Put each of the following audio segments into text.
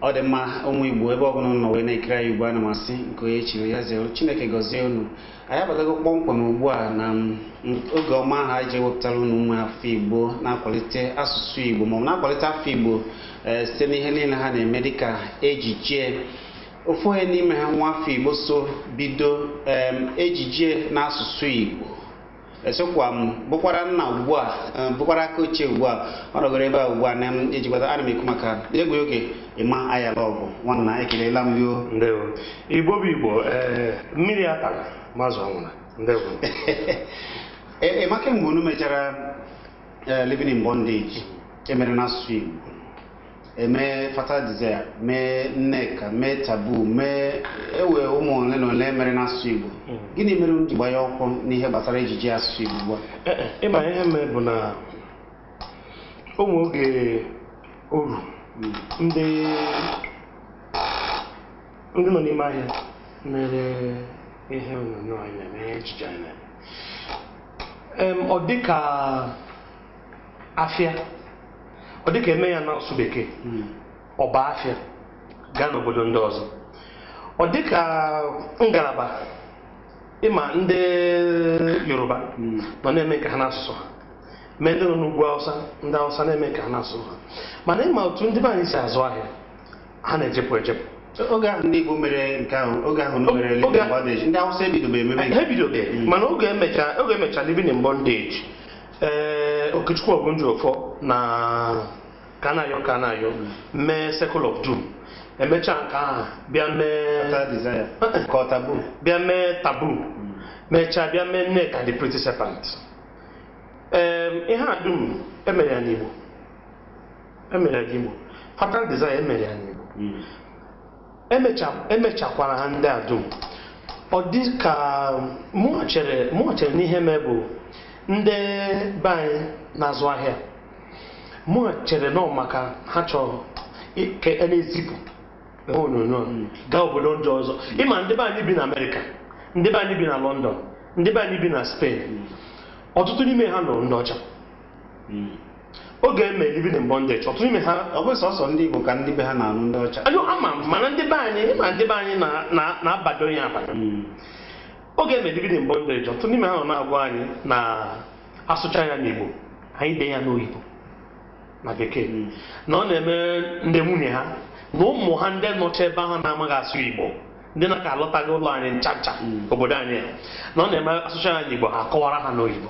ọ dị mma ụmụ igbo ebe ọbụla unu nọ wee na-ekiri anyị ugbu a ana m asị nke onye chiri ya zere chineke gọzie unu anyị abatago kpọmkwem ugbu a na oge ọma ahụ anyị ji ewepụtara unu ụmụ afọ igbo na-akwalite asụsụ igbo maọbụ na-akwalite afọ igbo eh, site n'ihe niile ha na-eme dịka ejije ofu onye n'ime ha nwa afọ igbo so bido em, ejije n'asụsụ igbo esokwa m bụkwara nna ugbu a eh, bụkwara aka ochie ugbu a ọ nọgoro ebe a ugbu a na m ejikwata ana m ekwu maka egwu oge emma ayalogu nwanna ekelela m gị o ndewo igbo bụ igbo ee mmiri atala ma azụ anwụna ndewo Emma kemgbe unu mechara eh, living in bondage emere n'asụsụ igbo emee fatal desire mee nneka mee taboo mee ewe ụmụ ole na ole mere n'asụsụ igbo gịnị mere unu ji gbanyụọ ọkụ n'ihe gbasara ejije asụsụ igbo ugbu a Ee, e, ịma ihe mere bụ na ụmụ oge o ru ndị ndị nọ n'ime ahịa mere ihe onyonyo anyị na-eme ihe ejije anyị na-eme Em, ọ dị ka afịa ọ dịka eme ya n'asụsụ bekee hmm. ọ baa afịa gaa n'obodo ndị ọzọ ọ dịka ngalaba ịma ndị yoruba hmm. nọ na-eme nke ha n'asụsụ ha mee ndị nọ n'ugwu awụsa ndị awụsa na-eme nke ha n'asụsụ ha mana ịma otu ndị be anyị si azụ ahịa ha na-ejepụ ejepụ oge ahụ ndị Igbo mere nke ahụ oge ahụ mere living in bondage ndị Awụsa ebidobe emebe ha ebidobe hmm. mana oge emechara living in bondage ee okechukwu ogunjiofor na kanayo kanayo mee circle of doom emechaa nke ahụ bịa mee Fatal desire. Ka ọ taboo. bịa mee taboo mechaa bịa mee nneka the pretty serpent Em, ihe a dum emere ya n'igbo emere ya n'igbo fatal desire emere ya n'igbo emechakwara e ha ndị a dum ọ dị ka mụwa chere na ihe mee bụ ndị be anyị na-azụ ahịa mụwa chere na ọ maka ha chọrọ ka a na-ezipụ ihe onyonyo hmm. gaa obodo ndị ọzọ hmm. ịma ndị be anyị bi na amerịka ndị be anyị bi na london ndị be anyị bi na spain hmm. ọtụtụ n'ime ha nụrụ ndị ọcha Hmm. oge e mere living in bondage ọtụtụ n'ime ha ọ bụ sọsọ ndị Igbo ka ndị be ha na-alụ ndị ọcha ayo ama mana ndị be anyị ma ndị be anyị na-abado ya abado hmm. oge e mere living in bondage ọtụtụ n'ime ha nọ na-agwa anyị na a sụcha ya n'Igbo anyị dee ya n'oyibo na bekee hmm. na ọ na-eme ndị nwunye ha na ụmụ ha ndị nọcha ebe ahụ na-amaghị asụ Igbo ndị na-aka alọtaghị ụlọ anyị ncha ncha obodo anyị na ọ na-eme a sụcha ya n'Igbo ha akọwara ha n'oyibo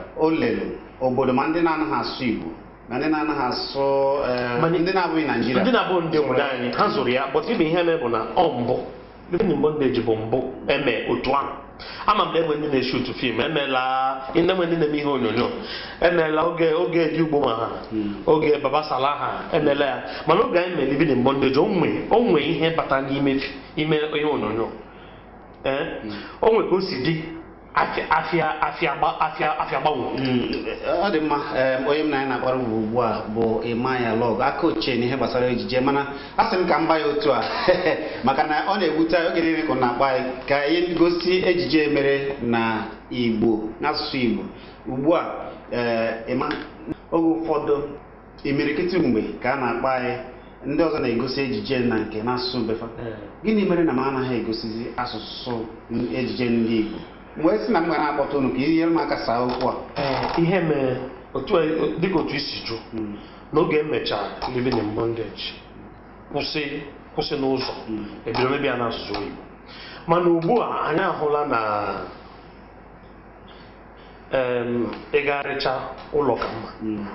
o lere obodo ma ndị na-anaghị asụ Igbo na ndị na-anaghị asụ eh, Mana- ndị na-abụghị Naijiria ndị na-abụ ndị obodo anyị ha zụrụ ya but ibe ihe mere bụ na ọ bụ living in bondage bụ mbụ eme otu ahụ ama m na enwe ndị na-eshutu fim emela enwe ndị na-eme ihe onyonyo emela oge oge Eddie Ugbomah ha oge Baba Sala ha emela ya mana oge anyị mere living in bondage o nwe o nwe ihe bata n'ime fi- ime ihe onyonyo ee o nwe ka o si dị afịa afịa afịa gba- afịa afịa gbanwo Mm, ọ dị mma em, onye m na ya na-akpara ubu ugbu a bụ Emma Ayalogu aka ochie n'ihe gbasara ejije mana a sị m ka m gba ya otu a maka na ọ na-ewute anyị oge niile ka ọ na-akpọ anyị ka anyị gosi ejije e mere na Igbo n'asụsụ Igbo ugbu a ee, Emma oge ụfọdụ imirikiti mgbe ka a na-akpọ anyị ndị ọzọ na-egosi ejije na nke n'asụsụ be fa eh. gịnị mere na m anaghị egosizi asụsụ ejije ndị Igbo m wee sị na m ga na-akpọta unu ka i nyere m aka saa okwu a eh, ihe mere dịka otu i si jụọ hmm. n'oge e mechara living in bondage kwụsị kwụsị n'ụzọ hmm. e bido mebe ya n'asụsụ Igbo mana ugbu a anyị ahụla na ịgagharịcha ụlọ ka mma hmm.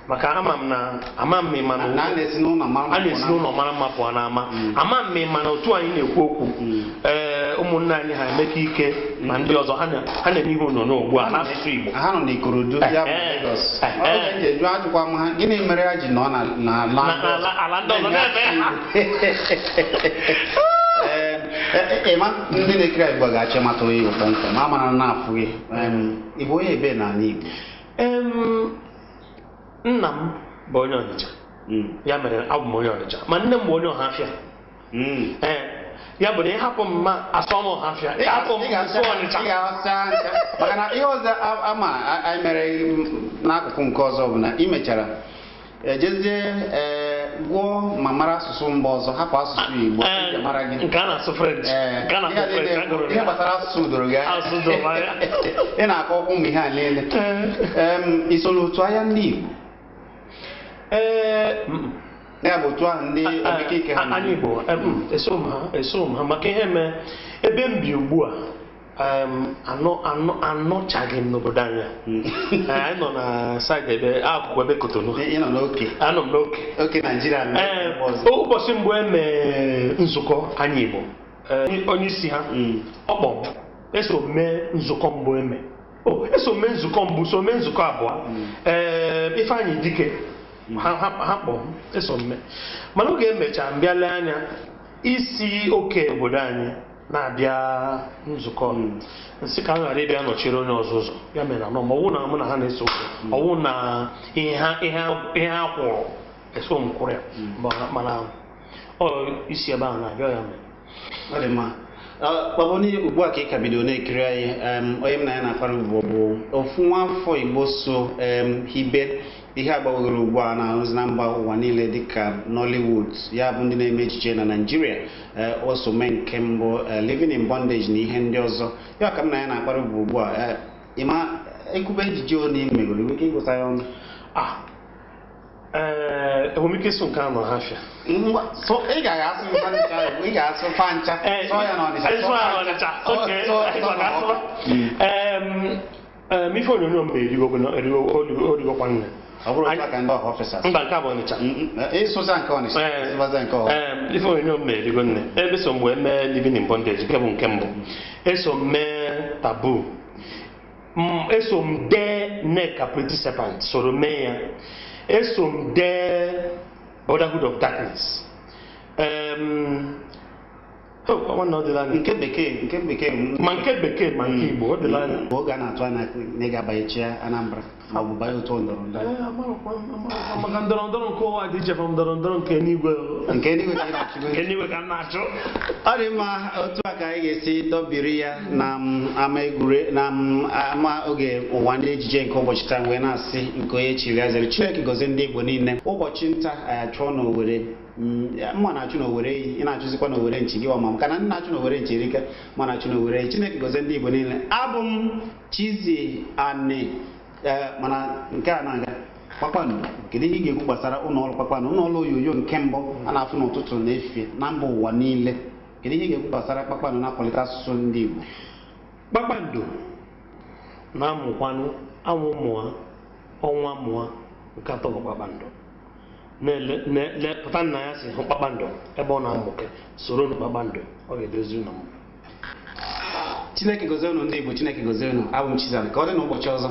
maka ama m na ama m ị ma na a na-esi n'ụlọ mara mma pụọ n'ama hmm. ama m ị ma na otu anyị na-ekwu okwu hmm. ee ụmụnne anyị ha Emeka Ike na ndị ọzọ ha na-eme ihe onyonyo ugbu a n'asụsụ Igbo ha nọ n'Ikorodu ya bụ Lagos ajụkwa m ha gịnị mere ha ji nọ n'ala ndị ọzọ na-eme Emma ndị na-ekiri anyị ugbu a ga-achọ ịmata onye ị bụ kpọmkwem ma mara na-afụ gị ị bụ onye ebe n'ala Igbo nna m bụ onye Ọnịcha hmm. ya mere abụ m onye Ọnịcha ma nne m bụ onye Ọhafịa hmm. ya bụ na ị hapụ m m asụọ Ọhafịa ị hapụ m m sụọ Ọnịcha maka na ihe ọzọ ama anyị mere n'akụkụ nke ọzọ bụ na ị mechara ejezie ee gụọ ma mara asụsụ mba ọzọ hapụ asụsụ Igbo Ee, eji mara gị nke a na-asụ French Ee, nke a na-asụ ihe a French niile- a gụrụ ihe ya. gbasara asụsụ doro gị anya. Asụsụ doro anya. ị na-akọ okwu ụmụ ihe a niile Ee. Em, i so n'otu ahịa ndị Igbo Ee, mm, ya bụ otu ahụ ndị a- Emeka Ike ha a- na anyị Igbo em, eso m ha eso m ha maka ihe mee ebe m bi ugbu a anọchaghị m n'obodo anyị hmm. eh, anyị nọ na saịdị ebe akụkụ ebe kotonu anọ m n'oke oke naịjirịa eh, ụbọchị mbụ eme nzukọ anyị igbo eh, onye isi ha hmm. ọ kpọ m eso m mee nzukọ mbụ eme eso m mee nzukọ mbụ so mee nzukọ abụọ ee hmm. ifeanyị dike ha kpọ m eso m mee mana oge emechaa m bịa lee anya isi oke n'obodo anyị na-abịa nzukọ m sị ka m ghara ịbịa nọchiri onye ọzọ ụzọ ya mere anọ ma ọ wụ na mụ na ha na-eso ọ wụ na ihe ha ihe ha- ihe ha kwụrụ eso m kwụrụ ya mana mana ọ isi ebe ahụ na-abịa ya mere Ọ dị mma. Ah, Baba onye ugbu a ka ị ka bido na-ekiri anyị em, onye m na ya na-akpara ubu bụ ofu nwa afọ Igbo so em, hibe ihe a gbawogoro ugbu a na-arụzi na mba ụwa niile dịka Nollywood ya bụ ndị na-eme ejije na Naịjirịa o so mee nke mbụ eh, Living in Bondage na ihe ndị ọzọ ya ka m na ya na-akpara ubu ugbu a eh, ị ma e kwube ejije one ị megoro ị nwere ike ịgụta ya ọnụ Ah, ee, enwere m ike ịsụ nke a na ọhafịa Ngwa, so ị gaghị asụ mba nke ahụ, ị ga-asụ fa ncha sụọ ya n'ọnịcha Ịsụ ya n'Ọnịcha, okay. Ịsụ ya n'Ọnịcha. Em, Em, ife onyonyo m mere erigo o rigokwa nne ọ bụrụ otu a ka ndị ọhafịa si asụ mba nke a bụ ọnịcha ịsụza nke ọnịsha Ee. ịsụbaza nke ọha Ee, ife onyonyo m mere erigo nne eso m wee mee living in bondage nke bụ nke mbụ eso m mee taboo M- eso m dee nneka pretty serpent soro mee ya eso m dee brotherhood of darkness Em, nke bekee nke bekee ma nke bekee ma nke Igbo ọ dịla anya mgbe oge a na-atụ anya na ị ga-abanye chịa Anambra ma ọ bụ banye otu ndọrọ ndọrọ maka ndọrọ ndọrọ nke ụwa dị iche from ndọrọ ndọrọ nke eluigwe nke eluigwe ka m na-achụ nke eluigwe ka m na-achụ ọ dị mma otu a ka anyị ga-esi dọbiri ya na ama egwure na ama oge ụwa ndị ejije nke ụbọchị taa m wee na-asị nke onye chiri ya zere Chineke gozie ndị Igbo niile ụbọchị nta anyị achụọ n'Owere mụwa na-achụ n'owere eyi ị na-achụzikwa n'owere nchi gịwa ma maka na ndị na-achụ n'owere nchi erika mụwa na-achụ n'owere eyi chineke gozie ndị igbo niile abụ m chizzy ani eh, mana nke a na-aga kpakpando kedu ihe ị ga-ekwu gbasara ụlọ ọrụ kpakpando ụlọ ọrụ onyonyo nke mbụ a na-afụ n'ụtụtụ na efifie na mba ụwa niile kedu ihe ị ga-ekwu gbasara kpakpando na-akwalite asụsụ ndị igbo kpakpando na-amụkwanụ anwụ mụọ ọnwa mụọ nke atọ bụ kpakpando ị pụta n'anyasị hụ kpakpando ebe ọ na-amụke soronụ kpakpando ọ ga-edozi ụlọ m chineke gozie unu ndị igbo chineke gozie unu abụ m chizzy ani ka ọ dị n'ụbọchị ọzọ